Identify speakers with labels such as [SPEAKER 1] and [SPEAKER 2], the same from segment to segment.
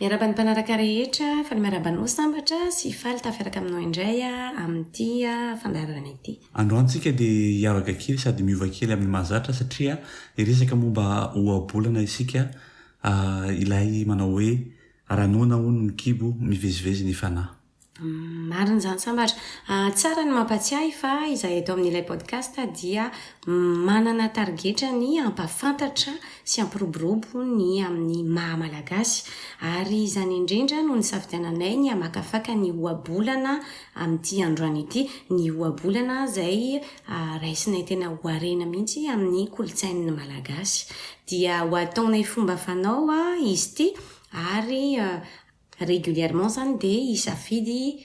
[SPEAKER 1] Miaraba ny mpanaraka rehetra, faly miaraba anao Sambatra sy faly tafiaraka aminao indray amin'ity fandaharana ity. Androantsika dia
[SPEAKER 2] hiavaka kely sady miova kely amin'ny mahazatra satria hiresaka momba ohabolana isika ilay manao hoe raha noana hono ny kibo mivezivezy ny fanahy. Marina
[SPEAKER 1] izany sambatra. Tsara ny mampatsiahy fa izahay eto amin'ilay podcast dia manana tarigetra ny hampahafantatra sy hampiroborobo ny amin'ny maha Malagasy. Ary izany indrindra no nisafidiananay ny hamakafaka ny ohabolana amin'ity androany ity. Ny ohabolana izay raisinay tena ho harena mihitsy amin'ny kolontsain'ny Malagasy. Dia ho ataonay fomba fanao izy ity ary Régulièrement zany dia hisafidy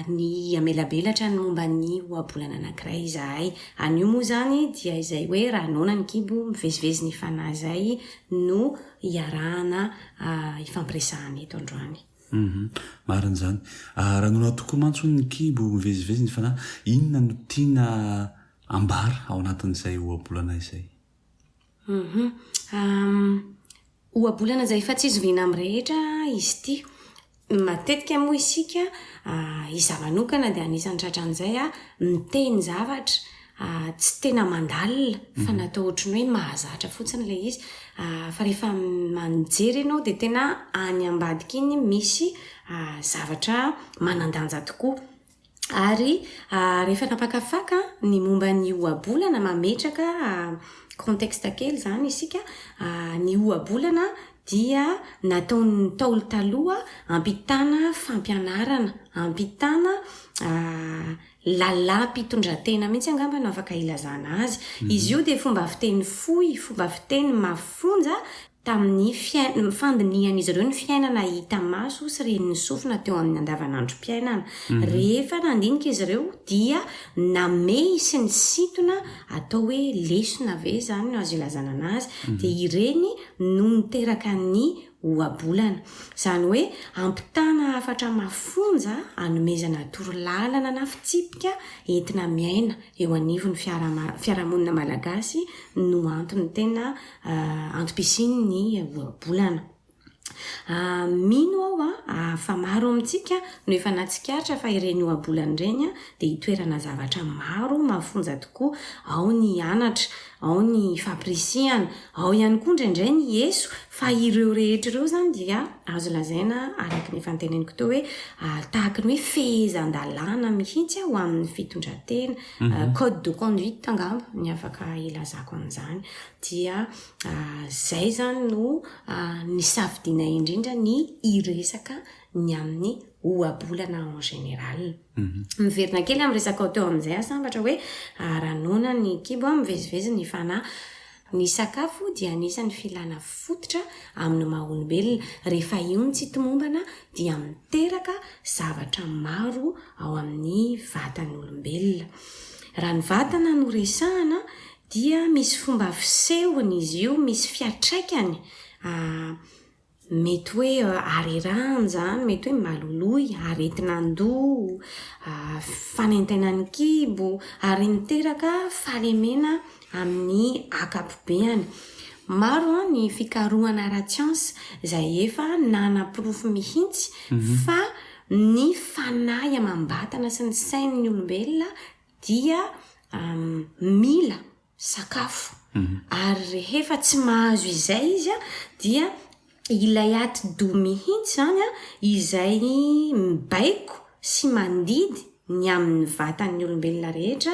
[SPEAKER 1] ny hamelabelatra ny momba ny ohabolana anankiray izahay. Anio moa izany dia izay hoe raha noana ny kibo mivezivezy ny fanahy izay no iarahana ifampiresahana eto androany. Marina
[SPEAKER 2] izany. Raha noana tokoa mantsy hono ny kibo mivezivezy ny fanahy, inona no tiana ambara ao anatin'izay ohabolana izay? Humm humm
[SPEAKER 1] ohabolana izay efa tsy zoviana amin'ny rehetra izy ity. Ny matetika moa isika izaho manokana dia anisan'ny tratran'izay an, miteny zavatra tsy tena mandalina fa natao ohatran'ny hoe mahazatra fotsiny ilay izy fa rehefa mijery ianao dia tena any ambadika iny misy zavatra manan-danja tokoa. Ary rehefa nampakafaka ny momba ny ohabolana, mametraka contexte kely izany isika, ny ohabolana dia nataon'ny Ntaolo taloha hampitana fampianarana, hampitana lalam-pitondran-tena mihitsy angamba no afaka ilazana azy. Izy io dia fomba fiteny fohy, fomba fiteny mafonja. Tamin'ny fandinihan'izy ireo ny fiainana hita maso sy ren'ny sofina teo amin'ny andavanandrom-piainana. Rehefa nandinika izy ireo dia namehy sy nisintona atao hoe lesona ve izany no azo ilazana anazy, dia ireny no niteraka ny ohabolana. Izany hoe ampitana hafatra mafonja hanomezana torolalana na fitsipika entina miaina eo anivon'ny fiarahamonina malagasy no antony tena antom-pisiany ny ohabolana. Mino aho fa maro amintsika no efa nahatsikaritra fa ireny ohabolana ireny dia itoerana zavatra maro mafonja tokoa, ao ny hianatra, ao ny fampirisihana, ao ihany koa indraindray ny eso, fa ireo rehetra ireo izany dia azo lazaina araka ny efa noteneniko teo hoe tahaka ny hoe fehezan-dalàna mihitsy ho amin'ny fitondran-tena. Euh, code de conduite angamba ny afaka ilazako an'izany dia euh, zay zany no euh, ny safidina indrindra ny iresaka ny amin'ny ohabolana en général mhm. miverina kely amin'ny resaka ao teo amin'izay asambatra hoe aranona ny kibo a mivezivezy ny fanahy Ny sakafo dia anisan'ny filana fototra amin'ny maha olombelona. Rehefa io no tsy tomombana dia miteraka zavatra maro ao amin'ny vatan'olombelona. Raha ny vatana no resahana dia misy fomba fisehony izy io, misy fiatraikany. Mety hoe harerahany izany, mety hoe maloloy, aretin'andoha, fanaintainan'ny kibo, ary miteraka fahalemena amin'ny ankapobeany. Maro ny fikarohana ara-tsiansa izay efa nanaporofo mihitsy fa ny fanahy amam-batana sy ny sain'ny olombelona dia mila sakafo ary rehefa tsy mahazo izay izy a dia ilay atidoha mihitsy izany a izay mibaiko sy mandidy ny amin'ny vatan'ny olombelona rehetra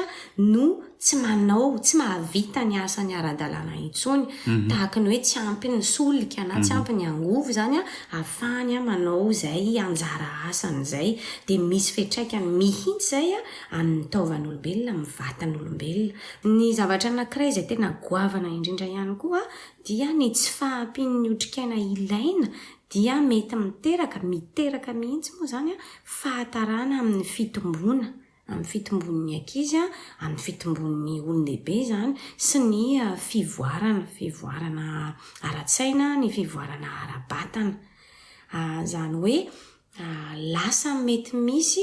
[SPEAKER 1] no tsy manao, tsy mahavita ny asany ara-dalàna intsony. Tahaka ny hoe tsy ampy ny solika na tsy ampy ny angovo izany a ahafahany manao izay anjara asany izay. Dia misy fiantraikany mihitsy izay a amin'ny taovan'olombelona, amin'ny vatan'olombelona. Ny zavatra anankiray izay tena goavana indrindra ihany koa dia ny tsy fahampian'ny otrikaina ilaina dia mety miteraka, miteraka mihitsy moa izany, fahatarana amin'ny fitomboana, amin'ny fitombon'ny ankizy, amin'ny fitombon'ny olon-dehibe izany sy ny fivoarana, fivoarana ara-tsaina, ny fivoarana ara-batana. Izany hoe Lasa mety misy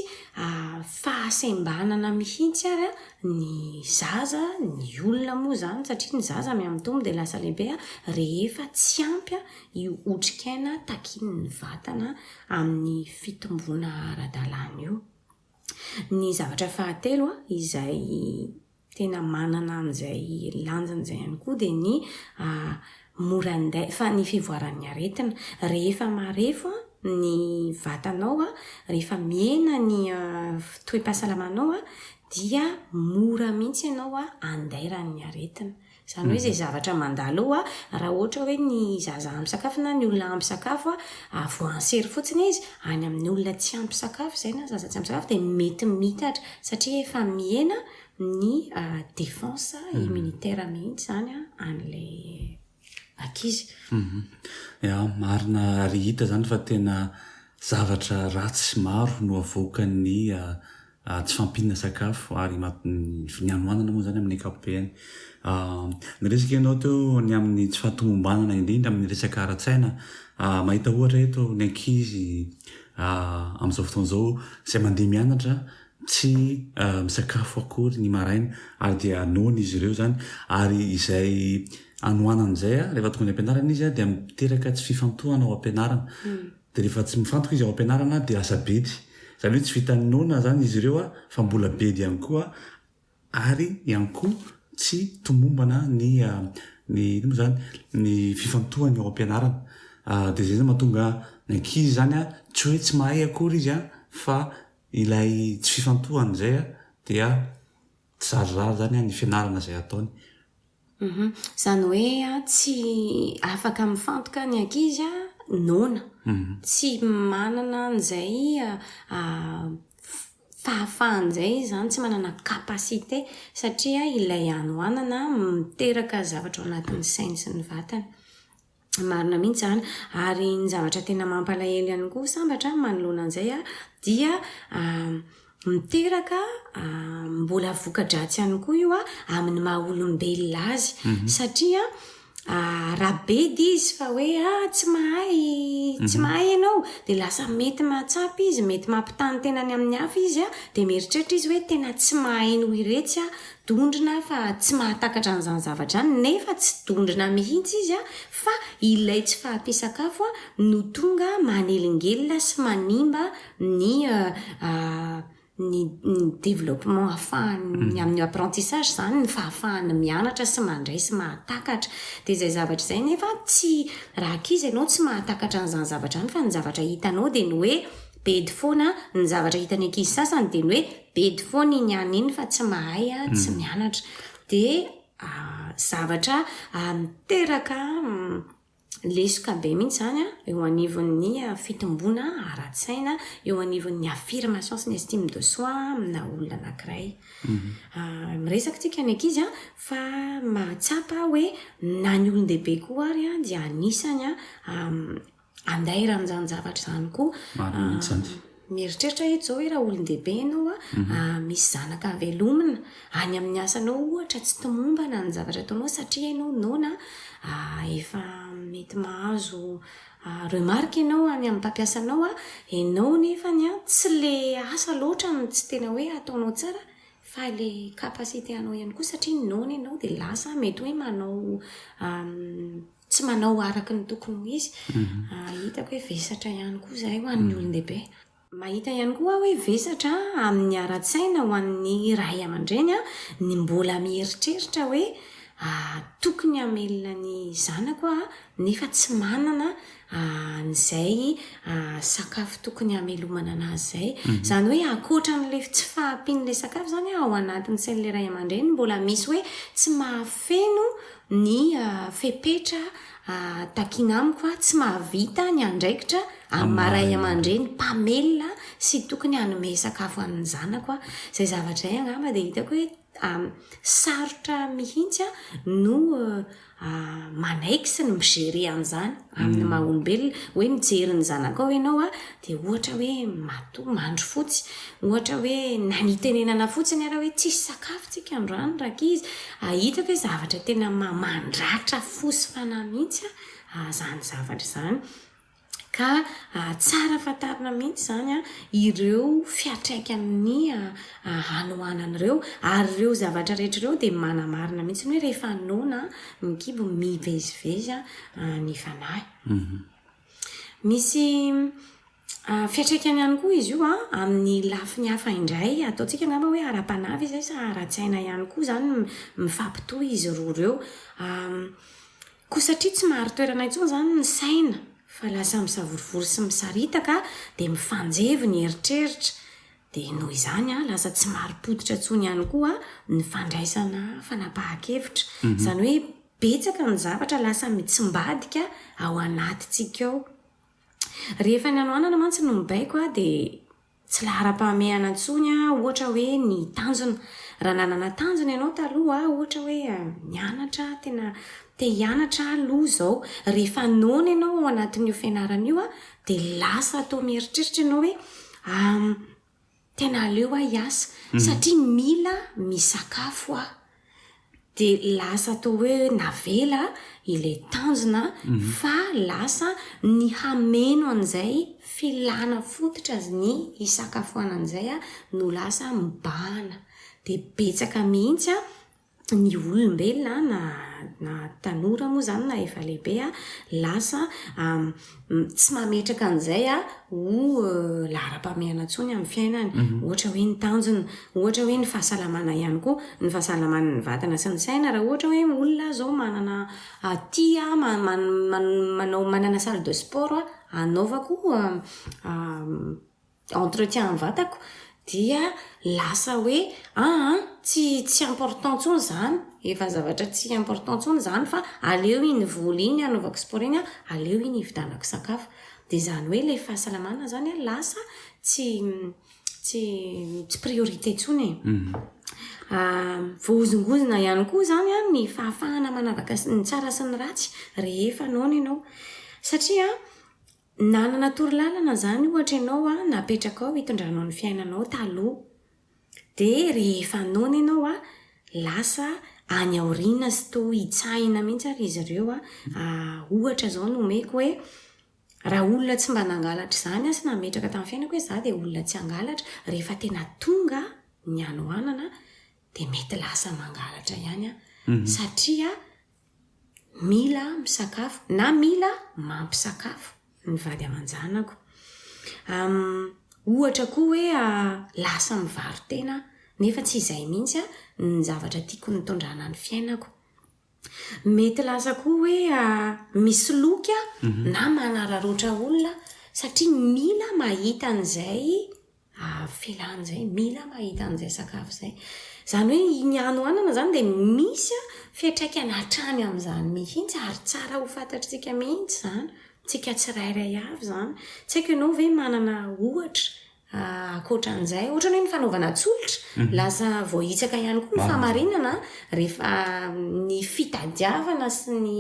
[SPEAKER 1] fahasembanana mihitsy ary ny zaza, ny olona moa izany, satria ny zaza mihamitombo dia lasa lehibe rehefa tsy ampy io otrikaina takian'ny vatana amin'ny fitomboana ara-dalàna io. Ny zavatra fahatelo izay tena manana an'izay lanjany izay ihany koa dia ny mora andeha fa ny fivoaran'ny aretina. Rehefa marefo ny vatanao, rehefa mihena ny toe-pahasalamanao dia mora mihitsy ianao andairan'ny aretina. Izany hoe izay zavatra mandalo eo, raha ohatra hoe ny zaza ampy sakafo na ny olona ampy sakafo, avoahan'i sery fotsiny izy any amin'ny olona tsy ampy sakafo izay na zaza tsy ampy sakafo dia mety miitatra satria efa mihena ny défense immunitaire mihitsy izany an'ilay ankizy. Ya,
[SPEAKER 2] marina ary hita izany fa tena zavatra ratsy maro no avoakan'ny. Tsy fahampiana sakafo ary ny finianoanana moa izany amin'ny ankapobeny. Niresaka ianao teo ny amin'ny tsy fahatomombanana indrindra amin'ny resaka ara-tsaina. Mahita ohatra eto ny ankizy amin'izao fotoana izao izay mandeha mianatra tsy misakafo akory ny maraina ary dia noana izy ireo izany ary izay anohanana izay rehefa tonga any am-pianarana izy dia miteraka tsy fifantohana ao am-pianarana. Dia rehefa tsy mifantoka izy ao am-pianarana dia lasa bedy. Izany hoe tsy vitan'ny noana izany izy ireo fa mbola bedy ihany koa ary ihany koa tsy tomombana ny ny inona moa izany? ny fifantohany ao am-pianarana. Dia izay izany mahatonga ny ankizy izany tsy hoe tsy mahay akory izy fa ilay tsy fifantohany izay dia Tsy zarizary izany ny fianarana izay ataony. Mhm.
[SPEAKER 1] Izany hoe tsy afaka mifantoka ny ankizy noana. Mhm. Tsy manana an'izay fahafahana izay izy izany, tsy manana capacité satria ilay hanoanana miteraka zavatra ao anatin'ny sainy sy ny vatany. Marina mihitsy izany. Ary ny zavatra tena mampalahelo ihany koa sambatra manoloana an'izay dia miteraka mbola voka-dratsy ihany koa io amin'ny maha olombelona azy. Mhm. Satria rabedy izy fa hoe ah, tsy mahay mhm. tsy mahay ianao dia lasa mety mahatsapa izy mety mampitany tenany amin'ny hafa izy a dia mieritreritra izy hoe tena tsy mahay noho iretsy a dondrona fa tsy mahatakatra an'izany zavatra izany nefa tsy dondrona mihitsy izy fa ilay tsy fahampian-sakafo no tonga manelingelina sy manimba ny ny ny développement ahafahan'ny amin'ny apprentissage izany ny fahafahany mianatra sy mandray sy mahatakatra dia izay zavatra izay nefa tsy raha k'izy ianao tsy mahatakatra an'izany zavatra izany fa ny zavatra hitanao dia ny hoe bedy foana ny zavatra hitan'ny ankizy sasany dia ny hoe Bedy foana iny any iny fa tsy mahay a, tsy mianatra. Dia zavatra miteraka lesoka be mihitsy izany a, eo anivon'ny fitomboana ara-tsaina, eo anivon'ny affirmation sy ny estime de soi aminà olona anankiray. Miresaka tsika ny ankizy a, fa mahatsapa aho hoe na ny olon-dehibe koa ary dia anisany andairan'ny izany zavatra izany koa mieritreritra itsao hoe raha olon-dehibe ianao a mhm. misy zanaka avelomina any amin'ny asanao ohatra tsy tomombana ny zavatra ataonao satria ianao nona efa mety mahazo remarque ianao any amin'ny mpampiasanao a ianao nefa ny a tsy le asa loatra ny tsy tena hoe ataonao tsara fa le capacité anao ihany koa satria nona ianao dia lasa mety hoe manao tsy manao araka ny tokony ho izy, ah, hitako hoe vesatra ihany koa izahay ho an'ny olon-dehibe. Mahita ihany koa hoe vesatra amin'ny ara-tsaina ho an'ny ray aman-dreny ah, ny mbola mieritreritra hoe ah, tokony hamelona ny zanako aho nefa tsy manana ah, an'izay ah, sakafo tokony hamelomana anazy izay. Mhm. Izany hoe ankoatra an'ilay tsy fahampian'ilay sakafo izany ah, ao anatin'ny sain'ilay ray aman-dreny mbola misy hoe tsy mahafeno ny fepetra takiana amiko tsy mahavita ny andraikitra amin'ny maha ray aman-dreny mpamelona sy tokony hanome sakafo an'ny zanako aho. Izay zavatra izay angamba dia hitako hoe sarotra mihitsy aho no manaiky sy ny mi-gérer an'izany amin'ny maha olombelona. Hoe mijery ny zanakao ianao Dia ohatra hoe matoa mandry fotsy, ohatra hoe na nitenenana fotsiny ara hoe tsisy sakafo tsika androany rankizy, ahita ve zavatra tena mandratra fo sy fanahy mihitsy an zany zavatra zany. Ka tsara fantarina mihitsy zany an ireo fiatraikan'ny hanoanana ireo, ary ireo zavatra rehetra ireo dia manamarina mihitsy ny hoe rehefa noana ny kibo mivezivezy ny fanahy. Misy fiantraikany ihany koa izy io amin'ny lafiny hafa indray. Ataontsika angamba hoe ara-panahy ve izay sa ara-tsaina ihany koa izany no mifampitohy izy roa ireo. Koa satria tsy mahary toerana intsony izany ny saina fa lasa misavorovoro sy misaritaka, dia mifanjevo ny eritreritra. Dia noho izany, lasa tsy marim-pototra intsony ihany koa ny fandraisana fanapahan-kevitra. Izany hoe Betsaka ny zavatra lasa mitsimbadika ao anatintsika ao. Rehefa ny hanoanana mantsy no mibaiko dia tsy laharam-pahamehana intsony ohatra hoe ny tanjona. Raha nanana tanjona ianao taloha ohatra hoe nianatra, tena te hianatra aho aloha izao. Rehefa noana ianao ao anatin'io fianarana io dia lasa toa mieritreritra ianao hoe Tena aleo aho hiasa satria mila misakafo aho. Dia lasa toa hoe navela ilay tanjona fa lasa ny hameno an'izay filana fototra ny hisakafoanana izay aho no lasa mibahana. Dia betsaka mihitsy an! ny olombelona na na tanora moa izany na efa lehibe a, lasa tsy mametraka an'izay a ho laharam-pahamehana intsony amin'ny fiainany. Mhm. Ohatra hoe ny tanjona, ohatra hoe ny fahasalamana ihany koa, ny fahasalaman'ny vatana sy ny saina. Raha ohatra hoe olona izao manana tia manao manana salle de sport hanaovako entretien ny vatako dia lasa hoe aa tsy tsy important tsony zany efa zavatra tsy important tsony zany fa aleo iny voly iny anaovako sport iny an aleo iny ividanako sakafo de zany hoe le fahasalamana zany an lasa tsy tsy tsy priorité tsony e voahozongozona ihany koa zany an ny fahafahana manavaka ny tsara sy ny ratsy rehefa noana ianao satria Nanana torolalana izany ohatra ianao an, napetrakao hitondranao ny fiainanao taloha. Dia rehefa noana ianao an, lasa any aoriana sy toa hitsahina mihitsy ary izy ireo an, ohatra izao no omeko hoe, raha olona tsy mba nangalatra izany aho sy nametraka tamin'ny fiainako hoe izaho dia olona tsy hangalatra, rehefa tena tonga ny hanoanana dia mety lasa mangalatra ihany aho satria mila misakafo na mila mampisakafo ny vady aman-janako. Ohatra koa hoe lasa mivaro-tena aho nefa tsy izay mihitsy ny zavatra tiako nitondrana ny fiainako. Mety lasa koa hoe misoloky aho na manararaotra olona satria mila mahita an'izay. Avela an'izay, mila mahita an'izay sakafo izay. Izany hoe iny hanohanana izany dia misy fiantraikany hatrany amin'izany mihitsy ary tsara ho fantatr'tsika mihitsy izany, tsika tsirairay avy izany. Tsy haiko ianao ve manana ohatra ankoatra an'izay? Ohatra ny hoe ny fanaovana tsolotra, lasa voahitsaka ihany koa ny fahamarinana rehefa ny fitadiavana sy ny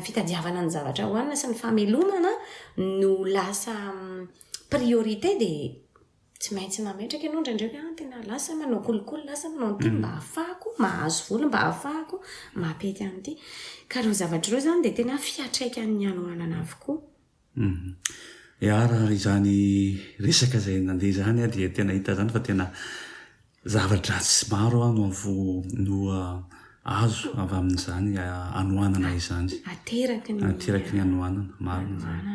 [SPEAKER 1] fitadiavana ny zavatra hohanina sy ny famelomana no lasa priorité dia tsy maintsy mametraka ianao indraindray hoe ah tena lasa manao kolikoly lasa manao an'ity mba hahafahako mahazo vola mba hahafahako mampety an'ity ka ireo zavatra ireo izany dia tena fiatraikan'ny hanoanana avokoa mhm. e
[SPEAKER 2] arary izany resaka izay nandeha izany dia tena hita izany fa tena Zava-dratsy maro aho no azo avy amin'izany hanoanana izany. Ateraky ny. Ateraky ny hanoanana. Marina izany.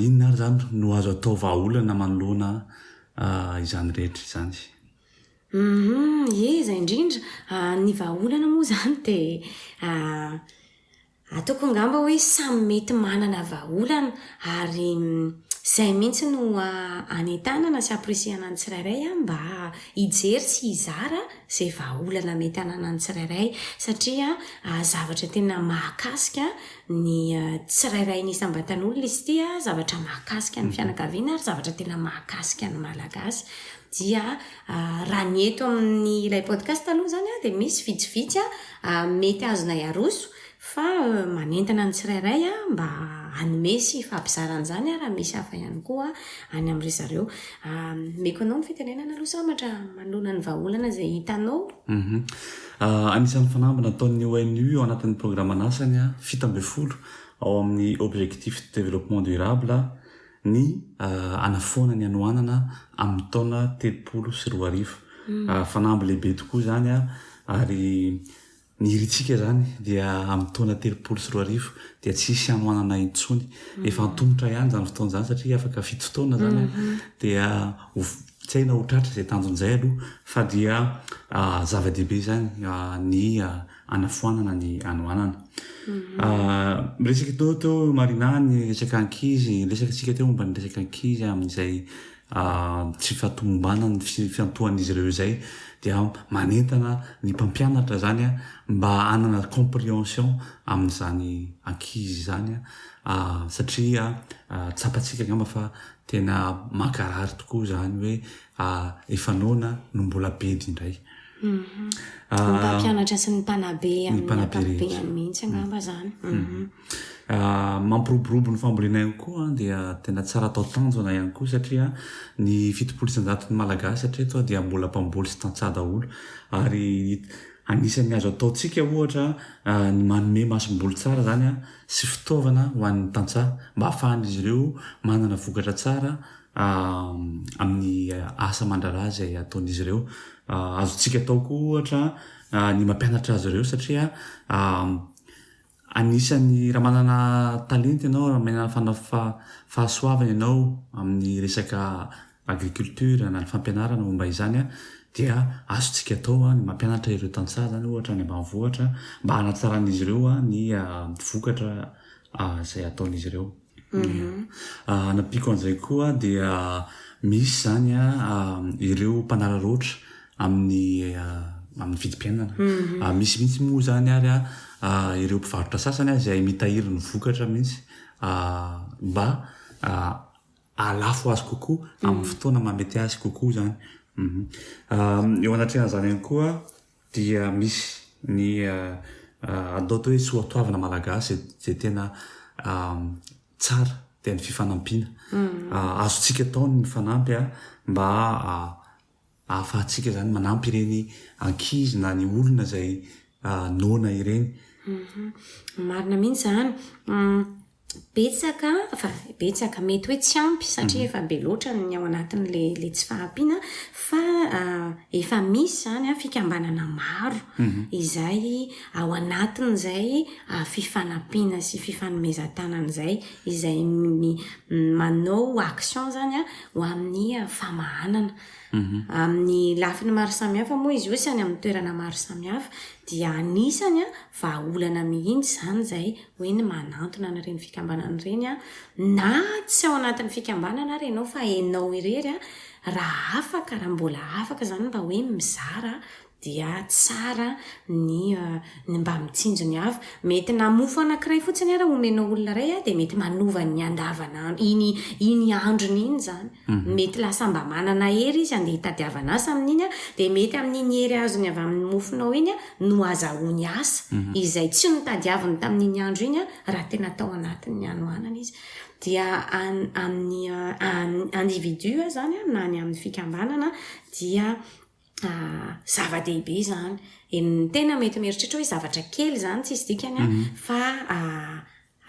[SPEAKER 2] Inona ary izany no azo atao vahaolana manoloana izany rehetra izany? Ie,
[SPEAKER 1] izay indrindra. Ny vahaolana moa izany dia. Ataoko angamba hoe samy mety manana vahaolana ary izay mihitsy no hanentanana sy hampirisihana ny tsirairay mba hijery sy hizara izay vahaolana mety hananan'ny tsirairay satria zavatra tena mahakasika ny tsirairay ny isam-batan'olona izy ity, zavatra mahakasika ny fianakaviana ary zavatra tena mahakasika ny Malagasy. Dia raha ny eto amin'ny ilay podcast aloha izany dia misy vitsivitsy A, mety azonay aroso fa manentana ny tsirairay a mba hanome sy hifampizara an'izany a raha misy hafa ihany koa any amin-dry zareo. A, omeko anao ny fitenenana aloha sambatra manoloana ny vahaolana izay hitanao. Mhm. A,
[SPEAKER 2] anisan'ny fanamby nataon'ny ONU ao anatin'ny programan'asany fito ambin'ny folo ao amin'ny Objectifs de développement durable, ny hanafoana ny hanoanana amin'ny taona telopolo sy roa arivo. Fanamby lehibe tokoa izany ary ny irintsika izany dia amin'ny taona telopolo sy roa arivo dia tsy hisy hanoanana intsony. Efa antomotra ihany izany fotoana izany satria afaka fito taona izany dia tsy hay na ho tratra izay tanjon'izay aloha fa dia zava-dehibe izany ny hanafoanana ny hanoanana. Miresaka teo teo Marina ny resaka ankizy, resaka tsika teo momba ny resaka ankizy amin'izay tsy fahatomombanan'ny fiantohan'izy ireo izay dia manentana ny mpampianatra zany a mba hanana comprehension amin'izany ankizy izany a satria tsapantsika angamba fa tena mankarary tokoa izany hoe efa noana no mbola be indray. Ny
[SPEAKER 1] mpampianatra sy ny mpanabe amin'ny ankapobeny mihitsy angamba izany.
[SPEAKER 2] Mampiroborobo ny fambolena ihany koa dia tena tsara atao tanjona ihany koa satria ny fitopolo isan-jaton'ny Malagasy hatreto aho dia mbola mpamboly sy tantsaha daholo ary anisan'ny azo ataontsika ohatra ny manome masomboly tsara izany sy fitaovana ho an'ny tantsaha mba hahafahan'izy ireo manana vokatra tsara amin'ny asa aman-draharaha izay ataon'izy ireo. Azontsika atao koa ohatra ny mampianatra azy ireo satria anisan'ny raha manana talenta ianao, raha manana fana- fa- fahasoavana ianao amin'ny resaka agriculture na ny fampianarana momba izany dia azontsika atao ny mampianatra ireo tantsaha izany ohatra any ambanivohitra mba hanatsaran'izy ireo ny vokatra izay ataon'izy ireo. Hanampiako an'izay koa dia misy izany ireo mpanararaotra amin'ny amin'ny vidim-piainana. Misy mihitsy moa izany ary ireo mpivarotra sasany izay mitahiry ny vokatra mihitsy mba hahalafo azy kokoa amin'ny fotoana mahamety azy kokoa izany. Eo anatrehan'izany ihany koa. dia misy ny atao hoe soatoavina malagasy izay tena tsara dia ny fifanampiana azontsika atao ny mifanampy mba ahafahantsika izany manampy ireny ankizy na ny olona izay noana ireny.
[SPEAKER 1] Marina mihitsy izany. betsaka, enfin betsaka, mety hoe tsy ampy satria efa be loatra ny ao anatin'ilay tsy fahampiana fa efa misy izany fikambanana maro izay ao anatin'izay fifanampiana sy fifanomezan-tanana izay, izay manao action izany ho amin'ny famahanana. Amin'ny lafiny maro samihafa moa izy io sy any amin'ny toerana maro samihafa dia anisany Vahaolana mihitsy izany izay hoe ny manantona an'ireny fikambanana ireny an, na tsy ao anatin'ny fikambanana ary ianao fa ianao irery an, raha afaka, raha mbola afaka izany mba hoe mizara dia tsara ny ny mba mitsinjo ny hafa. Mety na mofo anankiray fotsiny ary omenao olona iray an dia mety manova ny andavanandro, iny iny androny iny izany. Mety lasa mba manana hery izy handeha hitadiavana asa amin'iny an, dia mety amin'iny hery azony avy amin'ny mofonao iny an no azahoany asa izay tsy notadiaviny tamin'iny andro iny an, raha tena tao anatin'ny hanoanana izy. Dia amin'ny individu izany an na ny amin'ny fikambanana dia zava-dehibe izany. Ny tena mety mieritreritra hoe zavatra kely izany tsisy dikany an fa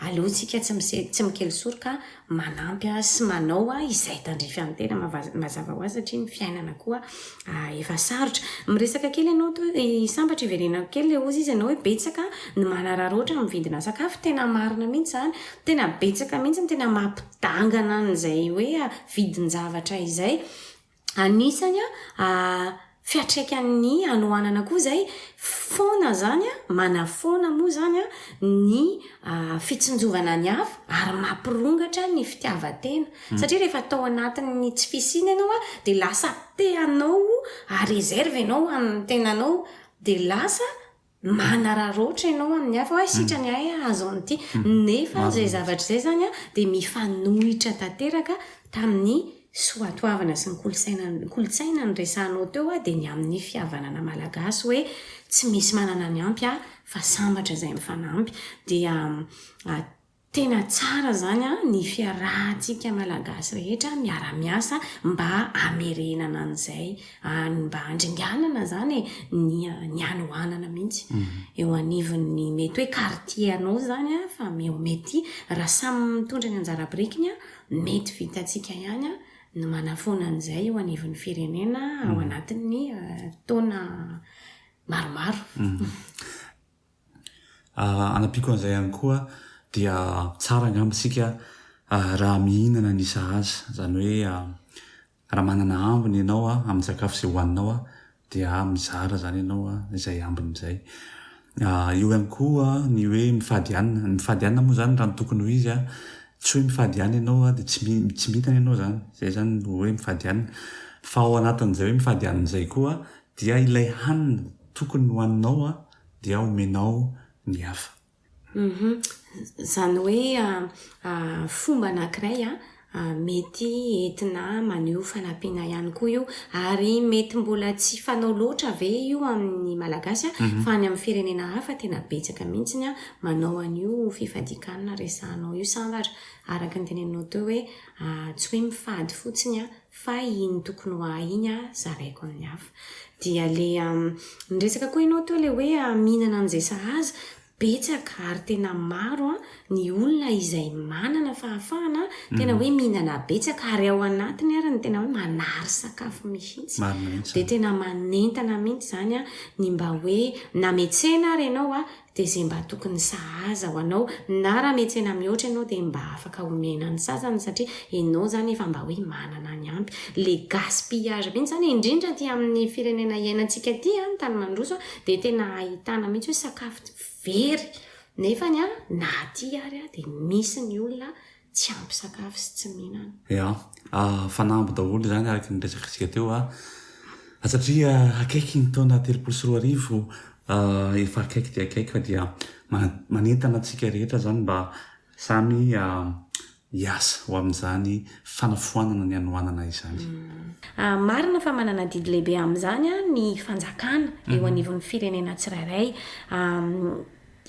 [SPEAKER 1] Aleontsika tsy misy tsy mikely soroka manampy sy manao izay tandrify an'ny tena mazava ho azy satria ny fiainana koa efa sarotra. Miresaka kely ianao to i sambatra iverenako kely le ozy izy ianao hoe betsaka ny manararaotra amin'ny vidina sakafo tena marina mihitsy izany tena betsaka mihitsy ny tena mampidangana an'izay hoe vidin-javatra izay Anisany a fiatraikan'ny hanoanana koa zay foana zany a, manafoana moa zany a ny fitsinjovana ny hafa ary mampirongatra ny fitiavan-tena. Satria rehefa atao anatin'ny tsy fisiana ianao a dia lasa te hanao à réserve ianao amin'ny tenanao dia lasa manararaotra ianao amin'ny hafa hoe sitrany ahy hahazo an'ity. Nefa izay zavatra izay izany dia mifanohitra tanteraka tamin'ny soatoavina sy ny kolontsaina kolontsaina noresahanao teo dia ny amin'ny fihavanana malagasy hoe tsy misy manana ny ampy fa sambatra izay mifanampy. Dia Tena tsara zany an ny fiarahantsika malagasy rehetra miara miasa mba hamerenana an'izay an mba handringanana zany e ny ny hanohanana mihitsy eo anivon'ny mety hoe quartier anao zany an fa eo mety raha samy mitondra ny anjara birikiny an mety vitantsika ihany an ny manafoana an'izay eo anivon'ny firenena ao anatin'ny taona maromaro.
[SPEAKER 2] Anampiako an'izay ihany koa dia tsara angamba isika raha mihinana ny sahaza, izany hoe raha manana ambiny ianao amin'ny sakafo izay hohaninao dia mizara izany ianao izay ambiny izay. Eo ihany koa ny hoe mifady hanina, ny mifady hanina moa izany raha ny tokony ho izy tsy hoe mifady ihany ianao dia tsy mi- tsy mihinana ianao izany, izay izany no hoe mifady hanina fa ao anatin'izay hoe mifady hanina izay koa Dia ilay hanina tokony hohaninao an dia omenao ny hafa. Humm. Izany
[SPEAKER 1] hoe fomba anankiray mety entina maneho fanampiana ihany koa io. Ary mety mbola tsy fanao loatra ve io amin'ny Malagasy fa any amin'ny firenena hafa tena betsaka mihitsy ny manao an'io fifadian-kanina resahanao io sambatra araka ny teneninao teo hoe tsy hoe mifady fotsiny fa iny tokony ho ahy iny a zaraiko amin'ny hafa dia le niresaka koa ianao teo le hoe mihinana an'izay sahaza betsaka ary tena maro a ny olona izay manana fahafahana tena hoe mihinana betsaka ary ao anatiny ary ny tena hoe manary sakafo mihitsy dia tena manentana mihitsy zany a ny mba hoe nametsena ary ianao a dia izay mba tokony sahaza ho anao na raha mihetsena mihoatra ianao dia mba afaka omena ny sasany satria ianao izany efa mba hoe manana ny ampy. Le gaspillage mihitsy izany indrindra aty amin'ny firenena iainantsika aty an, ny tany mandroso dia tena ahitana mihitsy hoe sakafo very nefany an na aty ary dia misy ny olona tsy ampy sakafo sy tsy mihinana. Ya, fanamby
[SPEAKER 2] daholo izany araka ny resakantsika teo a, satria akaiky ny taona telopolo sy roa arivo, efa akaiky dia akaiky fa dia manentana antsika rehetra izany mba samy hiasa ho amin'izany fanafoanana ny hanoanana izany. Marina
[SPEAKER 1] fa manana adidy lehibe amin'izany ny fanjakana eo anivon'ny firenena tsirairay.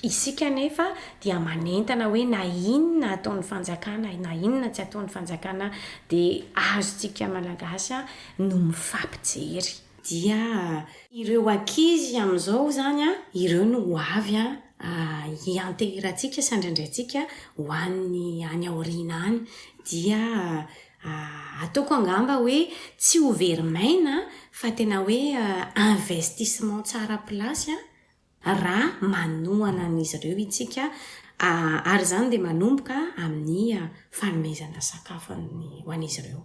[SPEAKER 1] Isika anefa dia manentana hoe na inona ataon'ny fanjakana na inona tsy ataon'ny fanjakana dia azontsika malagasy no mifampijery. Dia ireo ankizy amin'izao izany an, ireo no ho avy an, hianteherantsika sy handraindraintsika ho an'ny any aoriana any. Dia ataoko angamba hoe tsy ho very maina fa tena hoe investissement tsara place an. raha manohana an'izy ireo isika, ary izany dia manomboka amin'ny fanomezana sakafo ho an'izy ireo.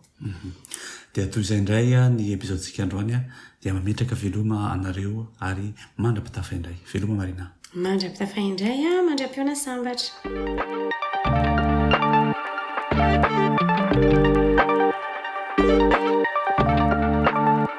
[SPEAKER 1] Dia
[SPEAKER 2] toy izay indray ny epizaodintsika androany, dia mametraka veloma anareo ary mandra-pitafa indray. Veloma
[SPEAKER 1] Marina.
[SPEAKER 2] Mandra-pitafa
[SPEAKER 1] indray,
[SPEAKER 2] mandra-pihaona
[SPEAKER 1] sambatra.